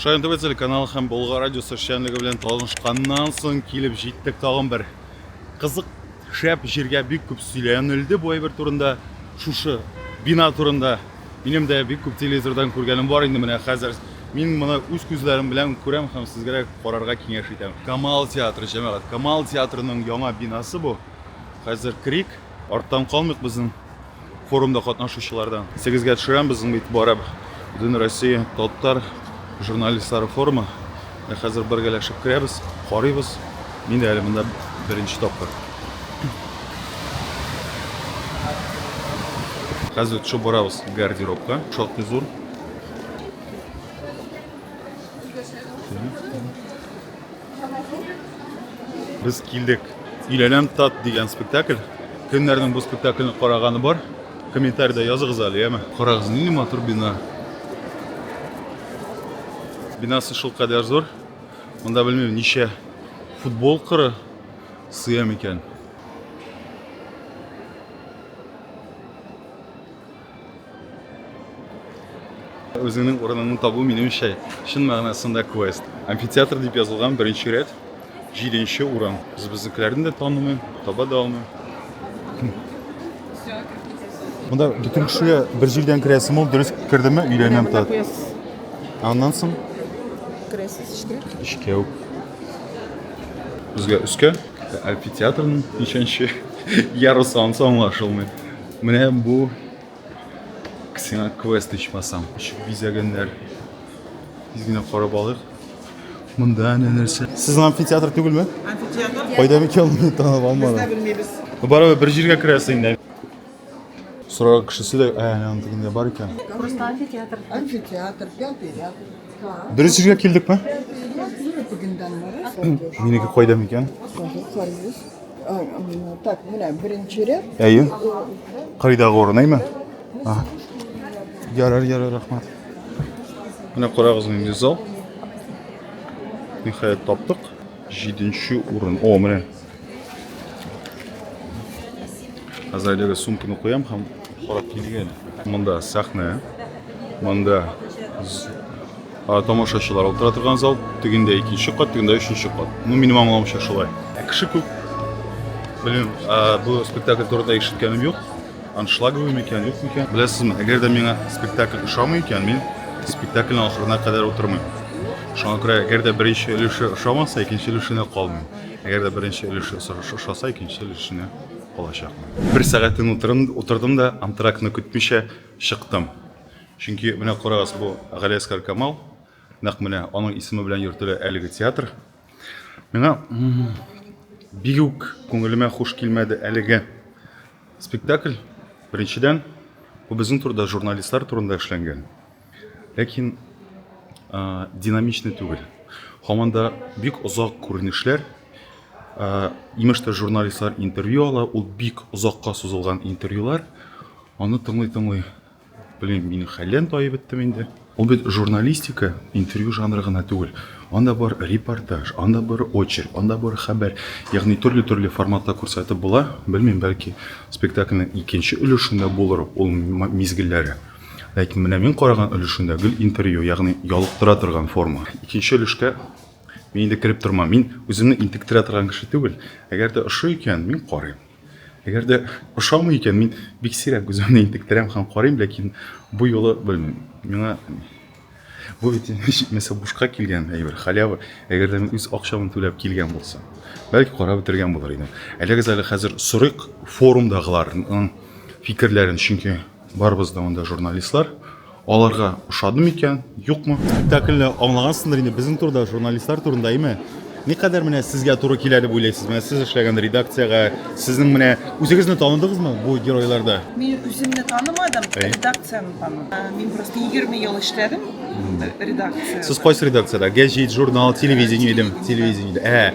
Шаян ТВ телеканалы һәм Болгар радиосы эшчәнлеге белән танышканнан соң килеп җиттек тагын бер кызык шәп җиргә бик күп сөйләнелде бу әйбер турында, шушы бина турында. Минем дә бик күп телевизордан күргәнем бар инде менә хәзер. Мин моны үз күзләрем белән күрәм һәм сезгә дә карарга киңәш итәм. Камал театры, җәмәгать. Камал театрының яңа бинасы бу. Хәзер керик, арттан калмыйк безнең. Форумда катнашучылардан. Исегезгә төшерәм, безнең бит барыб Бөтен Россия татар журналистлары форумы. Ә хәзер бергәләшеп керәбез, карыйбыз. Мин дә әле монда беренче тапкыр. Хәзер төшеп барабыз гардеробка. Шактый зур. Без килдек. Иләләм тат дигән спектакль. Кемнәрнең бу спектакльне караганы бар? Комментарида языгыз әле, яме. Карагыз, нинди матур бина. Бинасы шул кадәр зур. Монда белмим, ничә футбол кыры сыя микән. Үзеңнең урыныңны табу минемчә чын мәгънәсендә квест. Амфитеатр дип язылган беренче рәт, җиденче урын. Без безнекеләрне дә танымыйм, таба да алмыйм. Монда бөтен кешегә бер җирдән керәсем ул, дөрес кердеме? Өйләнәм тат. Аннан соң керәсез эчкә. Эчкә үк. Безгә өскә амфитеатрның ничәнче ярусы ансы аңлашылмый. Менә бу ксена квест ичмасам. Ишек бизәгәннәр. Тиз генә карап алыйк. Монда әнә нәрсә. Сезнең амфитеатр түгелме? Амфитеатр. Кайда микән моны танып алмадым. Без дә белмибез. Барыбер бер җиргә керәсе инде. Сораган кешесе дә әнә аны тегендә бар икән. Просто амфитеатр. Амфитеатр, пятый ряд. Дөрес җиргә килдекме? Минеке кайда микән? Так, менә беренче ряд. Әйе. Кайдагы урын, әйме? Ага. Ярар, ярар, рәхмәт. Менә карагыз инде зал. Ниһаять таптык. 7 урын. О, менә. Хәзер әлеге сумканы куям һәм карап килгән. Монда сәхнә. Монда Тамашачылар утыра торган зал, тегендә икенче кат, тегендә өченче кат. Ну, минем аңлавымча шулай. Ә кеше күп. Белмим, бу спектакль турында ишеткәнем юк. Аншлаговый микән, юк микән? Беләсезме, әгәр дә миңа спектакль ошамый икән, мин спектакльнең ахырына кадәр утырмыйм. Шуңа күрә, әгәр дә беренче өлеше ошамаса, икенче өлешенә калмыйм. Әгәр дә беренче өлеше ошаса, икенче өлешенә калачакмын. Бер сәгатен утырдым да, антрактны көтмичә чыктым. Чөнки, менә карагыз, бу Галиәскар Камал, нәкъ менә аның исеме белән йөртелә әлеге театр. Миңа бик үк күңелемә хуш килмәде әлеге спектакль. Беренчедән, бу безнең турыда журналистлар турында эшләнгән. Ләкин динамичный түгел. Һаман да бик озак күренешләр. Имеш тә журналистлар интервью ала, ул бик озакка сузылган интервьюлар. Аны тыңлый-тыңлый Блин, мине хәллән таеп беттем инде. Ул бит журналистика, интервью жанры гына түгел. Анда бар репортаж, анда бар очерк, анда бар хәбәр. Ягъни төрле-төрле форматта күрсәтеп була. Белмим, бәлки спектакльнең икенче өлешендә булыр ул мизгелләре. Ләкин менә мин караган өлешендә гел интервью, ягъни ялыктыра торган форма. Икенче өлешкә мин инде кереп тормам. Мин үземне интектерә торган кеше түгел. Әгәр дә ошый икән, мин карыйм. Әгәр дә ошамый икән, мин бик сирәк үземне интектерәм һәм карыйм, ләкин бу юлы белмим. Миңа бу бит җитмәсә бушка килгән әйбер, халява. Әгәр дә мин үз акчамны түләп килгән булса, бәлки карап бетергән булыр идем. Әлегез әле хәзер сорыйк форумдагыларның фикерләрен, чөнки барыбыз да монда журналистлар. Аларга ошады микән, юкмы? Спектакльне аңлагансыңдыр инде, безнең турыда, журналистлар турында, әйме? Никадәр менә сезгә туры килә дип уйлыйсыз? Менә сез эшләгән редакциягә, сезнең менә үзегезне таныдыгызмы бу геройларда? Мин үземне танымадым, редакцияне таныдым. Ә, мин просто 20 ел эшләдем редакция. Сез кайсы редакциядә? Гәҗит, журнал, телевидение идем, телевидение. Ә,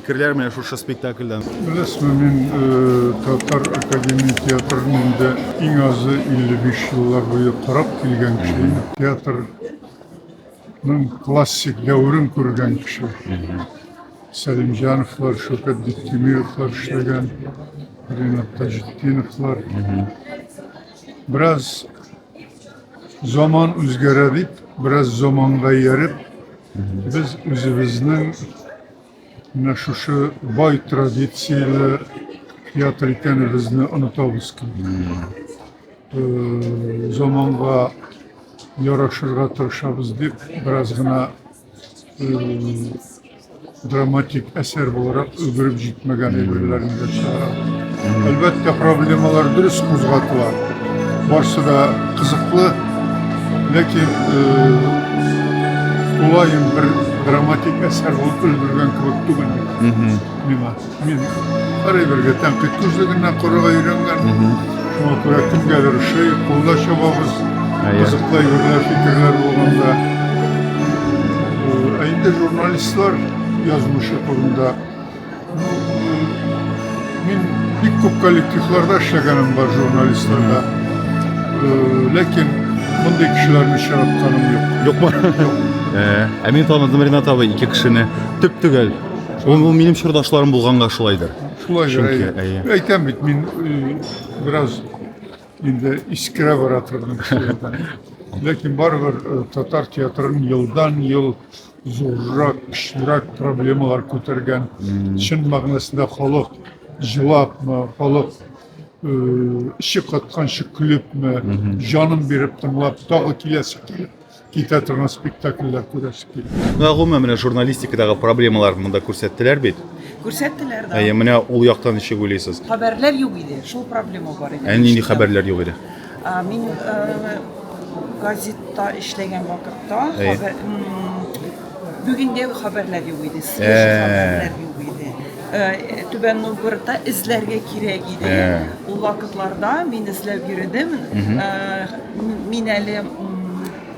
Фикерләр менә шушы спектакльдән. Беләсезме, мин Татар академия театрын инде иң азы 55 еллар буе карап килгән кеше идем. Театрның классик дәверен күргән кеше. Сәлимҗановлар, Шөкет Биктимировлар эшләгән, Ринат Таҗетдиновлар. Бераз заман үзгәрә дип, бераз заманга ияреп, без үзебезнең Менә шушы бай традицияле театр икәнебезне онытабыз килде. Заманга ярашырга тырышабыз дип, бераз гына драматик әсәр буларак өлгереп җитмәгән әйберләрне дә чыгарабыз. Әлбәттә, проблемалар дөрес кузгатыла. Барсы да кызыклы, ләкин тулаем бер драматик әсәр булып өлгергән кебек түгел миңа. Мин һәрбергә тәнкыйть күзлегенә карарга өйрәнгән. Шуңа күрә кемгәдер шый, кулда чабабыз, кызыклы әйберләр, фикерләр булганда. Ә инде журналистлар язмышы турында Мин бик күп коллективларда эшләгәнем бар журналистларда. Ләкин мондый кешеләрне очратканым юк. Юкмы? Э, ә мин таныдым Ринат абый ике кешене. Төп төгәл. Ул ул минем чордашларым булганга шулайдыр. Шулай Чөнки, әйе. Әйтәм бит, мин э, бераз инде искерә бара торган кешеләрдән. Ләкин барыбер э, татар театрын елдан-ел зуррак, көчлерәк проблемалар күтәргән. Чын мәгънәсендә халык җылапмы, халык эче катканчы көлепме, җанын биреп тыңлап, тагы киләсе килеп китә торган спектакльләр күрәсе килә. Менә гомумән менә журналистикадагы проблемалар монда күрсәттеләр бит. Күрсәттеләр да. Әйе, менә ул яктан ничек уйлыйсыз? Хәбәрләр юк иде, шул проблема бар иде. Ә нинди хәбәрләр юк иде? Мин газетта эшләгән вакытта хәбәр бүгендә хәбәрләр юк иде, свежий хәбәрләр юк иде. Түбән Новгородта эзләргә кирәк иде. Ул вакытларда мин эзләп йөрдем. Мин әле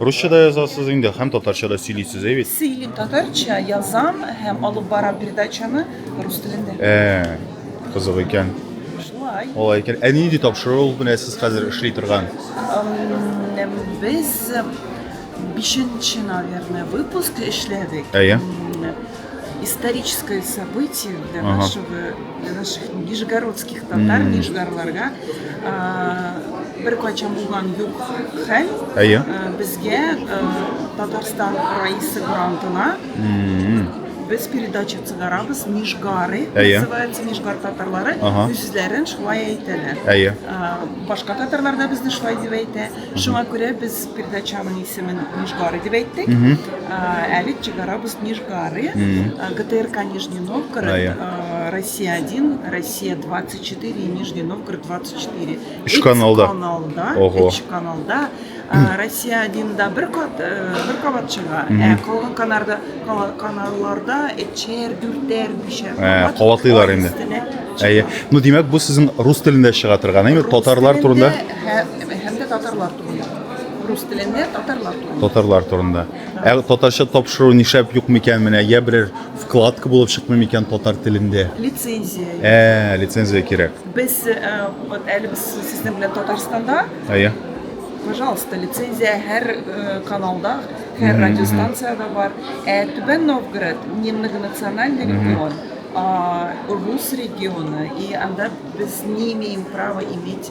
Русча да язасыз инде һәм татарча да сөйлисез, әйбит. Сөйлим татарча, язам һәм алып барам передачаны рус телендә. Ә, кызык икән. Шулай. Алай икән. Ә нинди тапшыру менә сез хәзер эшли торган? Без бишенче, наверное, выпуск эшләдек. Әйе. историческое событие для ага. нашего, для наших нижегородских татар, mm. нижгарларга бер кайчан булган юк хәл әйе безгә татарстан раисы грантына без передача чыгарабыз нижгары называется нижгар татарлары үзләрен шулай әйтәләр әйе башка татарлар да безне шулай дип әйтә Шуңа күрә без передачаның исемен Нижгары дип әйттек. Әле чыгарабыз Нижгары, ГТРК Нижний Новгород, Россия 1, Россия 24 и Нижний Новгород 24. Үч каналда. Үч каналда. Россия 1 да бер кат бер кабат чыга. Ә калган канарда каналларда эчер, дүртәр, бишәр. Кабатлыйлар инде. Әйе. Ну, димәк, бу сезнең рус телендә чыга торган, әйме? Татарлар турында. Һәм дә татарлар турында. Рус телендә татарлар турында. Татарлар турында. Ә татарча тапшыру нишләп юк микән менә? Я берәр вкладка булып чыкмый микән татар телендә? Лицензия. Ә, лицензия кирәк. Без э, вот әле без сезнең белән Татарстанда, Әйе. пожалуйста, лицензия һәр э, каналда, һәр радиостанциядә бар. Ә Түбән Новгород не многонациональный регион, а рус регионы, и анда без не имеем права иметь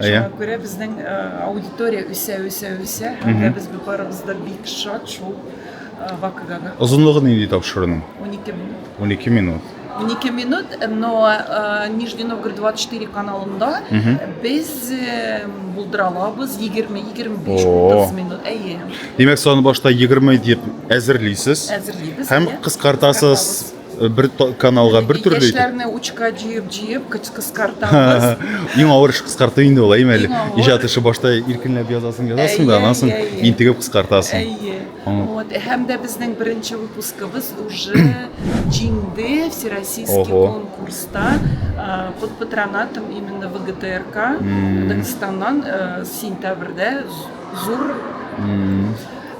Иә. Шуңа күрә безнең аудитория үсә, үсә, үсә. Һәм дә без барыбыз да бик шат шул вакыйгага. Озынлыгы нинди тапшыруның? 12 минут. 12 минут. 12 минут, но Нижний Новгород 24 каналында без булдыра алабыз 20-25-30 минут. Әйе. Димәк, саны башта 20 дип әзерлисез. Әзерлибез. Һәм кыскартасыз. Э, бер каналга бер төрле итеп киңәшләрне учка җыеп җыеп кыскартабыз иң авыр эш кыскарту инде ул әйме әле иҗат эше башта иркенләп язасың язасың да аннан соң интегеп кыскартасың әйе вот һәм дә безнең беренче выпускыбыз уже җиңде всероссийский конкурста под патронатом именно вгтрк дагестаннан э, сентябрьдә зур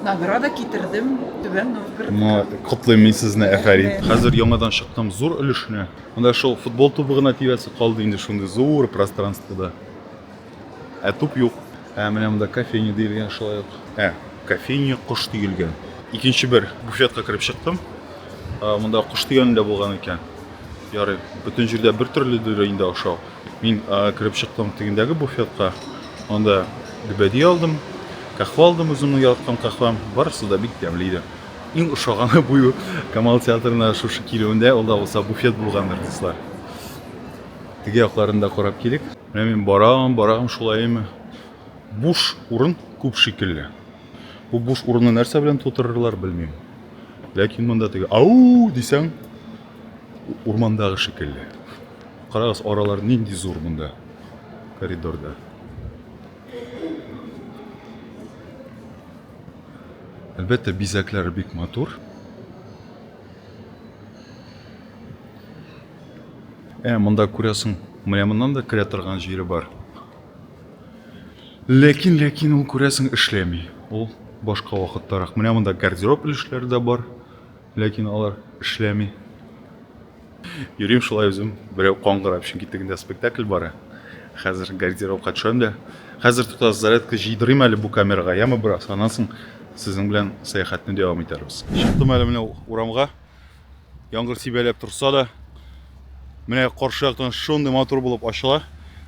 Награда китердем Түбән Новгород. Ма котлыйм мин сезне, әфәрин. Хәзер яңадан чыктым зур өлешенә. Монда шул футбол тубы гына тирәсе калды инде шундый зур пространствода. Ә туп юк. Ә менә монда кофейня диелгән шулай ук. Ә, кофейня кош диелгән. Икенче бер буфетка кереп чыктым. Монда кош дигән дә булган икән. Ярый, бөтен җирдә бер төрле дөрә инде ашау. Мин кереп чыктым тегендәге буфетка, анда лебеди алдым, кахва алдым, үземнең яраткан кахвам, барысы да бик тәмле иде. Иң ошаганы бу Камал театрына шушы килүендә ул да булса буфет булгандыр, дуслар. Теге якларын да карап килик. Менә мин барам, барам, шулаймы? Буш урын күп шикелле. Бу буш урынны нәрсә белән тутырырлар, белмим. Ләкин монда теге ау дисәң, урмандагы шикелле. Карагыз, аралар нинди зур монда коридорда. Әлбәттә, бизәкләре бик матур. Ә монда күрәсең, менә моннан да керә торган җире бар. Ләкин, ләкин ул күрәсең эшләми. Ул башка вакыттарак. Менә монда гардероб өлешләре дә бар. Ләкин алар эшләми. Йөрим шулай үзем, берәү каңгыра, өчен китегендә спектакль бара. Хәзер гардеробка төшәм дә. Хәзер тотас зарядка җыйдырыйм әле бу камерага, яме бераз, аннан соң сезнең белән сәяхәтне дәвам итәрбез. Чыктым әле менә урамга. Яңгыр сибәләп торса да, менә каршы яктан шундый матур булып ачыла.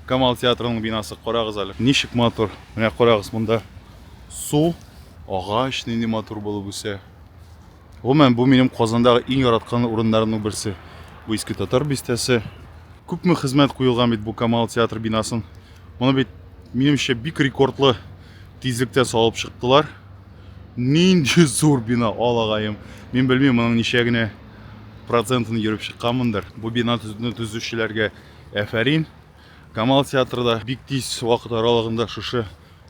Камал театрының бинасы, карагыз әле. Ничек матур. Менә карагыз, монда су, агач нинди матур булып үсә. Гомумән, бу минем Казандагы иң яраткан урыннарымның берсе. Бу иске татар бистәсе. Күпме хезмәт куелган бит бу Камал театр бинасын. Моны бит, минемчә, бик рекордлы тизлектә салып чыктылар. Нинди зур бина, алагаем. Мин белмим, моның ничә генә процентын йөреп чыкканмындыр. Бу бина төзүчеләргә әфәрин. Камал театры да бик тиз вакыт аралыгында шушы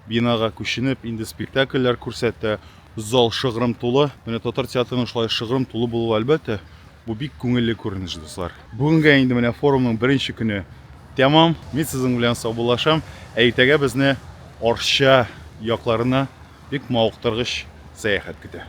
бинага күченеп, инде спектакльләр күрсәтә. Зал шыгрым тулы. Менә татар театрының шулай шыгрым тулы булуы, әлбәттә, бу бик күңелле күренеш, дуслар. Бүгенгә инде менә форумның беренче көне тәмам. Мин сезнең белән саубуллашам, ә иртәгә безне Арча якларына бик мавыктыргыч сәяхәт көтә.